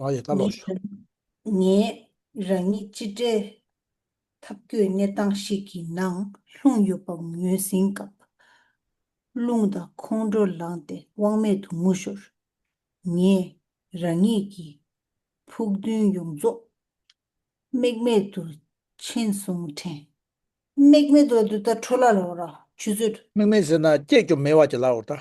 ངས་རང་ཉིད་སྤྱི་བསྒྲལ་ཐབས་བཀོད་གནས་སྟངས་ཤིག་གི་ནང་ལྷུང་ཡོད་པ་ངོས་ཟིན་སྐབས། རླུང་དང་ཁོང་ཁྲོ་ལངས་ཏེ་དབང་མེད་དུ་ངུ་ཞོར། ངས་རང་ཉིད་ཀྱི་ཕུགས་འདུན་ཡོངས་རྫོགས་རྨེག་མེད་དུ་འཆིང་བཟུང་དྲན། རྨེག་མེད་དུ་འདི་ལྟར་འཕྲོ་སླར་ལོག་ར་ཆུ་ཚོད། རྨེག་མེད་ཟེར་ན་སྐྱེས་ཀྱང་མེད་བར་གྱི་ལ་འོར་ལྟ།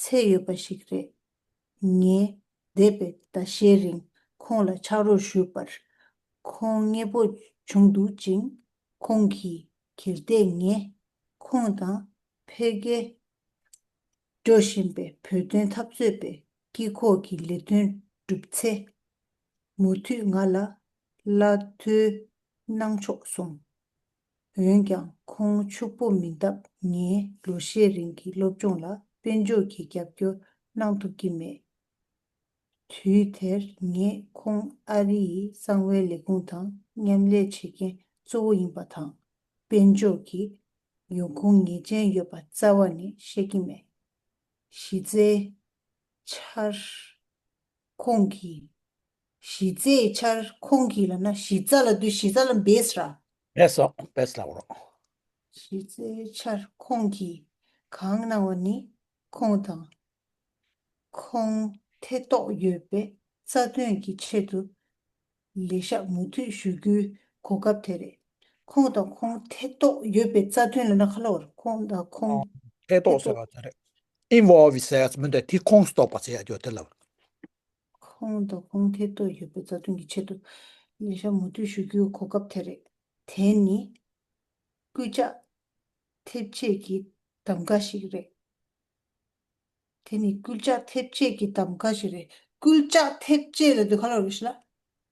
ཚད་ཡོད་པ་ཞིག་རེད། ངས་འདས་པའི་ཟླ་ཤས་རིང་ཁོང་ལ་ཕྱག་རོགས་ཞུས་པར་ཁོང་མཉེས་པོ་བྱུང་འདུག་ཅིང། ཁོང་གིས་གལ་ཏེ་ངས་ཁོང་དང་འཕེལ་རྒྱས་འགྲོ་བཞིན་པའི་བོད་དོན་འཐབ་རྩོད་པའི་དཀྱིལ་འཁོར་གྱི་ལས་དོན་བསྒྲུབས་ཚེ། མུ་མཐུད་ང་ལ་བླ་འཐུལ་གནང་ཆོག་གསུངས། འོན་ཀྱང་ཁོང་ཕྱུག་པོ་མིན་སྟབས་ངས་ལོ་ཤས་རིང་གི་སློབ་སྦྱོང་ལ་དཔལ་འབྱོར་གྱི་རྒྱབ་སྐྱོར་གནང་ཐུབ་ཀྱི་མེད། དུས་དེར་ངས་ཁོང་ཨ་རིའི་གསང་བའི་ལས་ཁུངས་དང་མཉམ་ལས་བྱེད་མཁན་གཙོ་བོ་ཡིན་པ་དང། དཔལ་འབྱོར་གྱི་ཡོང་ཁུངས་ངེས་ཅན་ཡོད་པ་རྩ་བ་ནས་ཤེས་ཀྱི་མེད། གཞི་རྩའི་ཆར། ཁོང་གིས་གཞི་རྩའི་འཆར་ཁུངས་ཀྱི་ལ་ན་གཞི་རྩ་ལ་བསྡུ་གཞི་རྩ་ལ་འབེས་ར། བེད་སོགས་བེད་ལ་འོར། གཞི་རྩའི་འཆར་ཁུངས་ཀྱི་གང་སྣང་བ་ནི་ཁུངས་དང། ཁུངས་ཐེ་གཏོགས་ཡོད་པའི་རྩ་དོན་གྱི་ཆེད་དུ་ལས་བཤགས་མུ་མཐུད་ཞུ་རྒྱུའི་གོ་སྐབས་དེ་རེད། ཁུངས་དང་ཁུངས་ཐེ་གཏོགས་ཡོད་པའི་རྩ་དོན་ལ་ན་ག་ལ་འོར། ཁུངས་དང་ཁུངས་ཐེ་གཏོགས། Invoices མི་འདོད་དེ་ཁུངས་སུ་གཏོགས་པ་ཟེར་ཡག་ཆོག་དེ་ལ་འོར། ཁོང་དང་ཁོང་ཐད་གཏོགས་ཡོད་པའི་རྩ་དོན་གྱི་ཆེད་དུ་ཉེ་ཞར་མུ་མཐུད་ཞུ་རྒྱུའི་གོ་སྐབས་དེ་རེད། དེ་ནི་སྐུལ་ལྕག་ཐེབས་རྗེས་ཀྱི་གདམ་ག་ཞིག་རེད། དེ་ནི་སྐུལ་ལྕག་ཐེབས་རྗེས་ཀྱི་གདམ་ག་ཞིག་རེད། སྐུལ་ལྕག་ཐེབས་རྗེས་རེད་འདུག་ག་ལོག་རེད་ཞུ་ལ།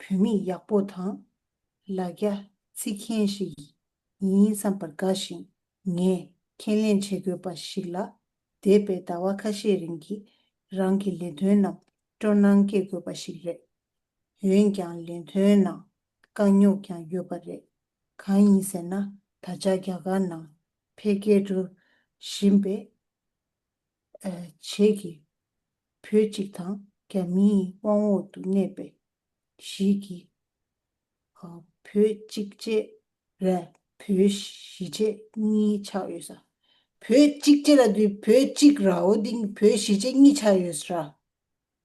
བུད་མེད་ཡག་པོ་དང་ལ་རྒྱ་རྩིས་མཁན་ཞིག་ཡིན་བསམ་པར་དགའ་ཞིང་ངས་ཁས་ལེན་བྱེད་དགོས་པ་ཞིག་ལ་འདས་པའི་ཟླ་བ་ཁ་ཤས་རིང་གི་རང་གི་ལས་དོན་རྣམས་སྤྲོ་སྣང་སྐྱེ་དགོས་པ་ཞིག་རེད། འོན་ཀྱང་ལས་དོན་ནང་དཀའ་རྙོག་ཀྱང་ཡོད་པ་རེད། གང་ཡིན་ཟེར་ན་ད་ཆ་རྒྱ་གར་ནང་འཕེལ་རྒྱས་འགྲོ་བཞིན་པས། བྱེད་ཀྱི། བུ་གཅིག་དང་རྒྱ་མིའི་དབང་འོག་ཏུ་གནས་པའི་གཞིས་ཀྱི། བུ་གཅིག་བཅས་ལ་བུ་བཞི་བཅས་གཉིས་ཆགས་ཡོད་ས། བུ་གཅིག་བཅས་ལ་བུ་གཅིག་རའོ་ཏིང་བུ་བཞི་བཅས་གཉིས་ཆགས་ཡོད་ས།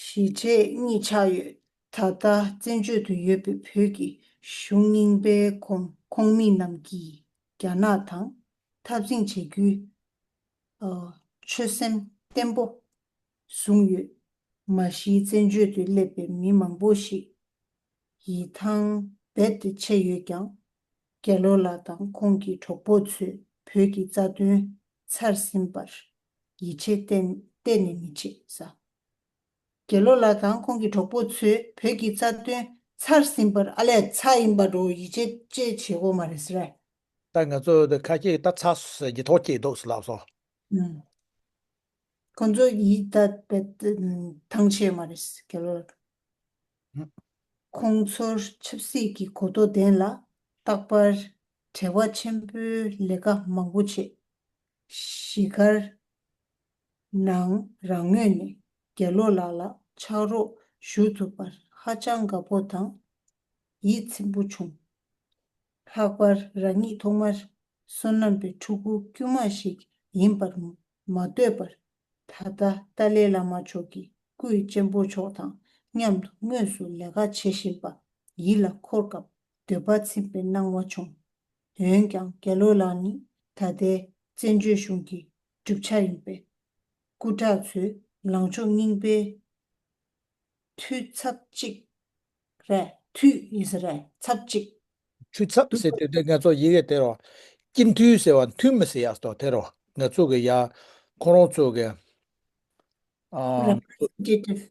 གཞིས་བྱེས་གཉིས་ཆགས་ཡོད། ད་ལྟ་བཙན་བྱོལ་དུ་ཡོད་པའི་བོད་ཀྱི་གཞུང་རྙིང་པའི་ཁོངས་ཁོངས་མི་རྣམས་ཀྱིས་རྒྱ་ནག་དང་འཐབ་འཛིང་བྱེད་རྒྱུའི་ཆོད་སེམས་བརྟན་པོ་བཟུང་ཡོད། མ་གཞི་བཙན་བྱོལ་དུ་སླེབས་པའི་མི་མང་པོ་ཞིག་ཡིད་ཐང་རྦད་དེ་ཆད་ཡོད་ཀྱང། རྒྱལ་ལོ་ལགས་དང་ཁོང་གི་གྲོགས་པོ་ཚོས་བོད་ཀྱི་རྩ་དོན་ཚར་ཟིན་པར་ཡིད་ཆེས་གཏན་གཏན་ནས་མི་བྱེད་ས། དགེ་ལོ་ལགས་དང་ཁོང་གི་གྲོགས་པོ་ཚོས་བོད་ཀྱི་རྩ་དོན་ཚར་ཟིན་པར་ཨ་ལས་ཚ་ཡིན་པ་འགྲོ་ཡིད་ཆེས་བཅས་བྱེད་དགོས་མ་རེད་ཟེར། ད་ང་ཚོ་འདི་ཁ་སྐྱེས་ད་ཚ་ཟེར་གྱི་ཐོག་སྐྱེས་འདུག་ལབ་སོང། ཁོང་ཚོ་ཡིད་ད་ཐང་ཆད་མ་རེད་དགེ་ལོ་ལགས། ཁོང་ཚོར་ཆབ་སྲིད་ཀྱི་གོ་རྟོགས་ལྡན་ལ་རྟག་པར་བྲེལ་བ་ཆེན་པོའི་ལས་ཀ་མང་པོ་བྱེད་གཞིས་སྒར་ནང་རང་མོས་ནས་རྒྱ་ལོ་ལགས་ལ་ཕྱག་རོགས་ཞུ་ཐུབ་པར་ཧ་ཅང་དགའ་པོ་དང་ཡིད་ཚིམ་པོ་བྱུང། ལྷག་པར་རང་ཉིད་ཐོག་མར་བསོད་ནམས་པའི་ཕྲུ་གུ་དཀྱུས་མ་ཞིག་ཡིན་པར་མ་འདོད་པར་ད་ལྟ་ཏཱ་ལའི་བླ་མ་མཆོག་གི་སྐུའི་གཅེན་པོ་མཆོག་དང་མཉམ་དུ་དངོས་སུ་ལས་ཀ་བྱེད་བཞིན་པ་ཡིད་ལ་འཁོར་སྐབས་འདོད་པ་ཚིམ་པའི་སྣང་བ་བྱུང། འོན་ཀྱང་རྒྱལ་ལོ་ལགས་ནི་ད་ལྟའི་བཙན་བྱོལ་གཞུང་གི་གྲུབ་ཆ་ཡིན་པས། སྐུ་དྲག་ཚོའི་ལངས་ཕྱོགས་རྙིང་པའི་འཐུས་ཚབ་ཅིག་རེད། འཐུས་ཡིན་ཟེར་བའི་ཚབ་ཅིག། འཐུས་ཚབ་ཟེར་དུས་དེ་ང་ཚོ་ཡི་གེ་དེ་རོ། སྤྱི་འཐུས་ཟེར་བ་འཐུས་མི་ཟེར་ཡག་སོ་དེ་རོ་ང་ཚོ་གི་ཡག། ཁོང་རོང་ཚོ་གི། Representative།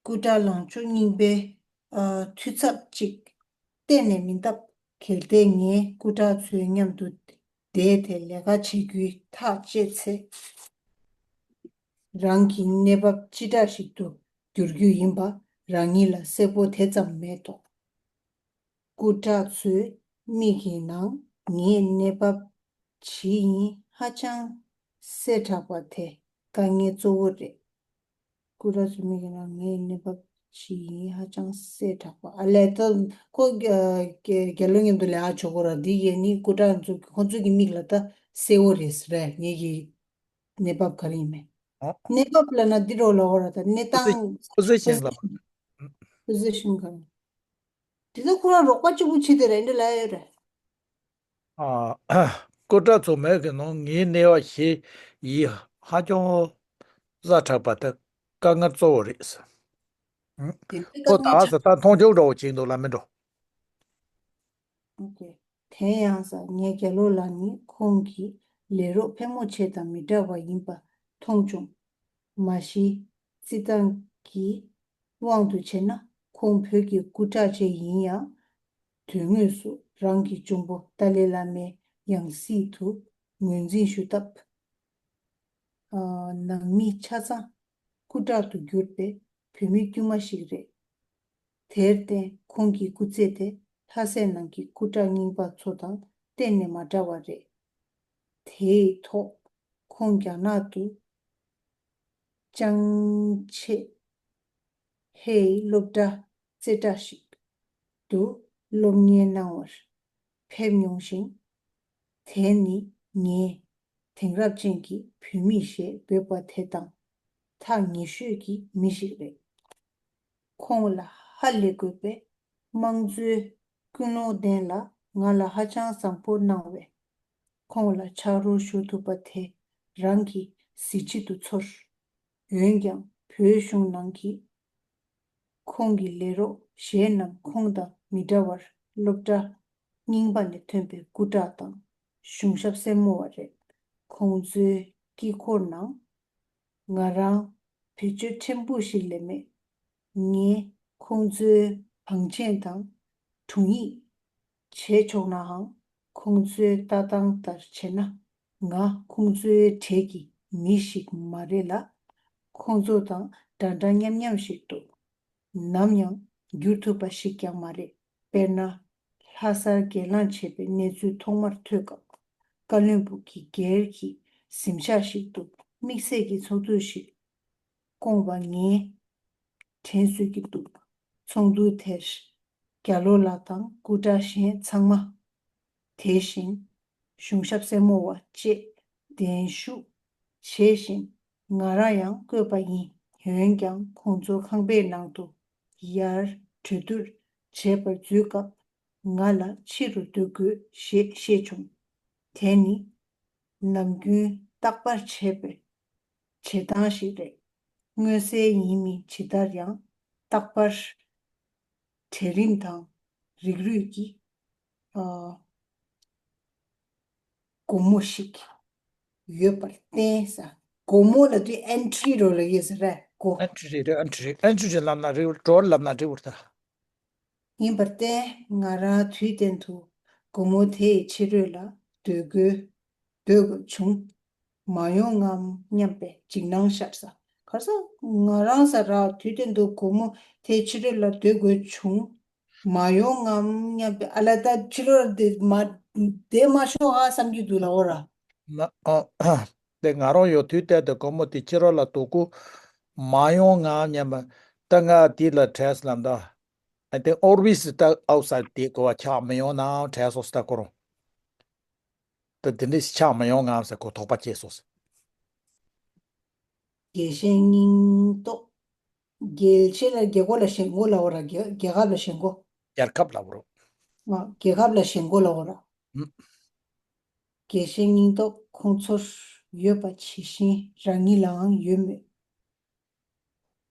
སྐུ་དྲག་ལོངས་སྤྱོད་རྙིང་པའི། འཐུས་ཚབ་ཅིག། གཏན་ནས་མིན་སྟབས། གལ་ཏེ་ངས་སྐུ་དྲག་ཚོའི་མཉམ་དུ་བསྡད་དེ་ལས་ཀ་བྱེད་རྒྱུའི་ཐག་བཅད་ཚེ། རང་གི་གནས་བབ་ཅི་འདྲ་ཞིག་ཏུ་འགྱུར་རྒྱུ་ཡིན་པ་རང་ཉིད་ལ་གསལ་པོ་དེ་ཙམ་མེད་དོ། སྐུ་དྲག་ཚོའི་མིག་གི་ནང་ངའི་གནས་བབ་ཇི་ཡིན་ཧ་ཅང་གསལ་དྲགས་པ་དེ་དཀའ་ངལ་གཙོ་བོ་རེད། སྐུ་རགས་ཀྱི་མིག་རང་ངའི་གནས་བབ་ཇི་ཡིན་ཧ་ཅང་གསལ་དྲགས་པ། ཨ་ལས། ཁོ་རྒྱལ་ལོ་མཉམ་དུ་ལས་ཨ་ཇོ་ཁོ་རགས་འདི་ཡས་ནི་སྐུ་དྲག་ཁོ་ཚོའི་གི་མིག་ལ་ད་གསལ་བོ་རེད་ཟེར་བས་ངའི་གི་གནས་བབ་ག་རེ་ཡིན་མེད། གནས་བབ་ལ་ན་འདི་རོ་ལ་བོ་ར་ད་གནས་སྟངས། Position ལ། Position ག་རེ། དེ་ད་ཁོ་རགས་རོགས་པ་གཅིག་པོ་བྱེད་དེ་རེད་འདྲ་ལ་ཡོད་རེད། སྐུ་དྲག་ཚོགས་མེད་ཀྱི་ནང་ངའི་གནས་བ་ཞེས་ཡིད་ཧ་ཅང་བཟའ་དྲགས་པ་དེ་དཀའ་ངལ་གཙོ་བོ་རེད། དེ་ནས་ཁོ་ད་ས་ད་མཐོང་ཆུང་འདྲ་བོ་བྱེད་འདུག་ལ་མི་འགྲོ། དེ་ཡང་ས་ངའི་རྒྱལ་ལོ་ལགས་ནི་ཁོང་གི་ལས་རོགས་ཕལ་མོ་ཆེ་དང་མི་འདྲ་བ་ཡིན་པ་མཐོང་བྱུང། མ་གཞི་རྩིས་ཐང་གི་དབང་དུ་བྱས་ན་ཁོང་བོད་ཀྱི་སྐུ་དྲག་ཅིག་ཡིན་ཡང། དོན་དངོས་སུ་རང་གི་གཅུང་པོ་ཏཱ་ལའི་བླ་མའི་ཡང་སྲིད་དུ་ངོས་འཛིན་ཞུ་སྟབས། ནང་མི་ཆ་ཚང་སྐུ་དྲག་ཏུ་གྱུར་པའི་བོད་མི་དཀྱུས་མ་ཞིག་རེད། དེར་བརྟེན་ཁོང་གི་སྐུ་ཚེ་དེ་ལྷ་སའི་ནང་གི་སྐུ་དྲག་རྙིང་པ་ཚོ་དང་གཏན་ནས་མ་འདྲ་བ་རེད། དེའི་ཐོག་ཁོང་རྒྱ་ནག་ཏུ་ཅང་ཆེ་ཧེའི་སློབ་གྲྭ་རྩེ་གྲ་ཞིག་དུ་སློབ་གཉེར་གནང་བར་ཕེབས་མྱོང་ཞིང། དེ་ནི་ངས་དེང་རབས་ཅན་གྱི་བུད་མེད་ཞེས་འབོད་པ་དེ་དང་ཐག་ཉེ་ཤོས་ཀྱི་མི་ཞིག་རེད། ཁོང་ལ་ཧ་ལས་དགོས་པའི་དམངས་གཙོའི་ཀུན་སློང་ལྡན་ལ་ང་ལ་ཧ་ཅང་བཟང་པོ་གནང་བས། ཁོང་ལ་ཕྱག་རོགས་ཞུ་ཐུབ་པ་དེ་རང་གི་གཟི་བརྗིད་དུ་ཚོར། འོན་ཀྱང་བོད་གཞུང་ནང་གི་ཁོང་གི་ལས་རོགས་གཞན་རྣམས་ཁོང་དང་མི་འདྲ་བར་སློབ་གྲྭ། རྙིང་པ་ནས་ཐོན་པའི་སྐུ་དྲག་དང་གཞུང་ཞབས་སེར་མོ་བ་རེད། ཁོང་ཚོའི་དཀྱིལ་འཁོར་ནང། ང་རང་བེད་སྤྱོད་ཕྲན་བུ་ཞིག་ལས་མེད། ངས་ཁོང་ཚོའི་བང་ཆེན་དང་དྲུང་ཡིག། བྱས་ཆོག་ནའང། ཁོང་ཚོའི་ལྟ་སྟངས་ལྟར་བྱས་ན། ང་ཁོང་ཚོའི་གྲས་ཀྱི་མི་ཞིག་མ་རེད་ལ། ཁོང་ཚོ་དང་འདྲ་འདྲ་མཉམ་མཉམ་ཞིག་འདུག་ནམ་ཡང་འགྱུར་ཐུབ་པ་ཞིག་ཀྱང་མ་རེད། དཔེར་ན། ལྷ་སར་སྒེར་ལངས་བྱས་པའི་གནས་ཚུལ་ཐོག་མར་ཐོས་སྐབས། བཀའ་བློན་པུ་གི་སྒེར་གྱི་གཟིམ་ཤག་ཞིག་ཏུ་དམིགས་བསལ་གྱི་ཚོགས་འདུ་ཞིག་སྐོང་བ་ངས་དྲན་གསོས་ཀྱི་འདུག་ཚོགས་འདུ་དེར་རྒྱ་ལོ་ལགས་དང་སྐུ་དྲག་གཞན་ཚང་མ། དེ་བཞིན་གཞུང་ཞབས་སེར་མོ་བ་བཅས་གདན་ཞུགས་བྱས་ཤིང་ང་རང་ཡང་བསྐོས་པ་ཡིན་འོན་ཀྱང་ཁོང་ཚོ་ཁང་པའི་ནང་དུ་ཡར་གྲོས་བསྡུར་བྱེད་པར་འཛུལ་སྐབས་ང་ལ་ཕྱི་རུ་སྡོད་དགོས་ཞེས་བཤད་བྱུང། དེ་ནི་ནམ་རྒྱུན་རྟག་པར་བྱས་པའི་བྱེད་སྟངས་ཤིག་རེད། མངོན་གསལ་ཡིན་མིན་ཇི་ལྟར་ཡང་རྟག་པར། གྲལ་རིམ་དང་རིགས་རུས་ཀྱི་སྒོ་མོ་ཞིག་ཡོད་པར་བརྟེན། སྒོ་མོ་ལ་དུས Entry རོ་ལ་ཡོད་ས་རེད་ཀོ། Entry རེད་རེད Entry རེད Entry ཅན་ལབ་ན་རེད་བུར Drawer ལབ་ན་རེད་བུར་ད། ཡིན་པར་བརྟེན་ང་རང་དུས་གཏན་དུ་སྒོ་མོ་དེའི་ཕྱི་རོལ་ལ་སྡོད་དགོས་བྱུང། མ་ཡོང་ངམ་སྙམ་པའི་འཇིགས་སྣང་ཤར་ས། གར་ས། ང་རང་ས་ར་དུས་དེ་འདུག་སྒོར་མོ་དེ་ཕྱི་རོལ་ལ་སྡོད་དགོས་བྱུང། མ་ཡོང་ངམ་སྙམ་པའི་ཨ་ལ་ད་ཕྱི་རོལ་ལ་བསྡད་མ་བསྡད་མ་ཤོག་ཧ་བསམ་གྱི་འདུག་ལ་འོ་ར། དེ་ང་རང་ཡོང་དུས་གཏན་དུ་སྒོར་མོ་དེ་ཕྱི་རོལ་ལ་སྡོད་དགོས། མ་ཡོང་ངམ་སྙམ་པའི་སྐྲག་སྔངས་དེ་ལ་བྲལ་སོང་ད། དེ་ཨོར་བྷིས་སྟ་ཨོག་ས་དེ་གོ་བ་ཆགས་མི་ཡོང་ནའང་བྲལ་སོང་སྟ་གོ་རང། དེ་འདི་འདྲས་ཆགས་མི་ཡོང་ངམ་ཟེར་གོ་དོགས་པ་སྐྱེས་སོ། རྒྱལ་གཞན་སྙིང་སྟོབས། རྒྱལ་ཆེ་ལ་རྒྱལ་སྒོ་ལ་ཞེན་གོ་ལ་བོ་ར་རྒྱལ་ཁབ་ལ་ཞེན་གོ། རྒྱལ་ཁབ་ལ་བོ་ར། རྒྱལ་ཁབ་ལ་ཞེན་གོ་ལ་བོ་ར། རྒྱལ་གཞན་སྙིང་སྟོབས་ཁོང་ཚོར་ཡོད་པ་ཇི་བཞིན་རང་ཉིད་ལའང་ཡོད་མོད།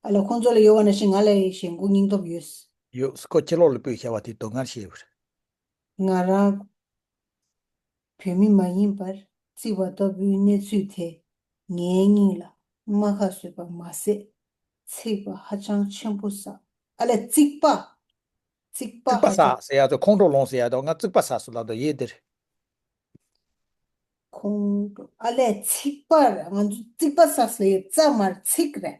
ཨ་ལ་ཁོང་ཚོ་ལ་ཡོད་བ་ན་བཞིན་ང་ལ་ཡང་ཞེན་གོ་སྙིང་སྟོབས་ཡོད། ཡོད། ཁོ་ཁྱེད་ལོག་ལ་པོས་བྱ་བ་དེ་དོན་ངར་བྱས། ང་རང་བོད་མི་མ་ཡིན་པར་བརྩི་བ་ལྟ་བུའི་གནས་ཚུལ་དེས་ངའི་སྙིང་ལ་རྨ་ཁ་བཟོས་པ་མ་ཟད། ཚེག་པ་ཧ་ཅང་ཆེན་པོ་བསགས། ཨ་ལས་རྩིག་པ། རྩིག་པ་ཧ་ཅང། ཟེར་ཡག་ཏུ་ཁོང་ཁྲོ་ལོངས་ཟེར་ཡག་ཏུ་ང་རྩིག་པ་བསགས་སུ་ལབ་དོ་ཡེ་འདིར། ཁོང་ཁྲོ་ཨ་ལས་ཚིག་པར་ང་ཚོ་རྩིག་པ་བསགས་སུ་ཡོད་རྩ་མར་ཚིག་རེད།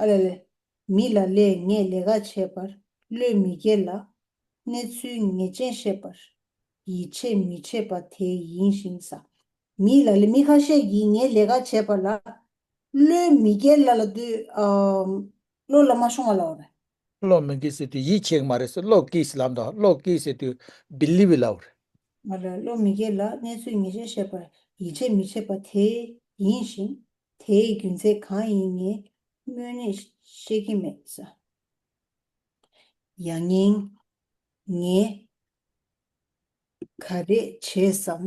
ཨ་ལེ་ལེ། མི་ལ་ལས་ངས་ལས་ཀ་བྱས་པར་བློས་མི་འགེལ་ལ། གནས་ཚུལ་ངེས་ཅན་བཤད་པར་ཡིད་ཆེས་མི་བྱེད་པ་དེ་ཡིན་ཞིང་ས། མི་ལ་ལས་མི་ཁ་ཤས་ཀྱིས་ངས་ལས་ཀ་བྱས་པར་བློས་མི་འགེལ་ལ་ལ་དུས་བློ་ལ་མ་ཤོང་བ་ལ་བར། བློས་མི་འགེལ་ཟེར་དུས་ཡིད་ཆེས་ཀྱི་མ་རེད་ཟེར་བློས་འགེལ་ལ་དང་བློས་འགེལ་ཟེར་དུས believe it ལ་བར། མ་ལ་ལས་བློས་མི་འགེལ་ལ་གནས་ཚུལ་ངེས་ཅན་བཤད་པར་ཡིད་ཆེས་མི་བྱེད་པ་དེ་ཡིན་ཞིང། དེའི་རྒྱུ་མཚན་གང་ཡིན་ངས་སྨོས་ནས་ཤེས་ཀྱི་མེད་བསམ། ཡང་སྙིང། ངས་ག་རེ་བྱས་སམ།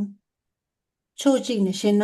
ཕྱོགས་གཅིག་ནས་བཤད་ན།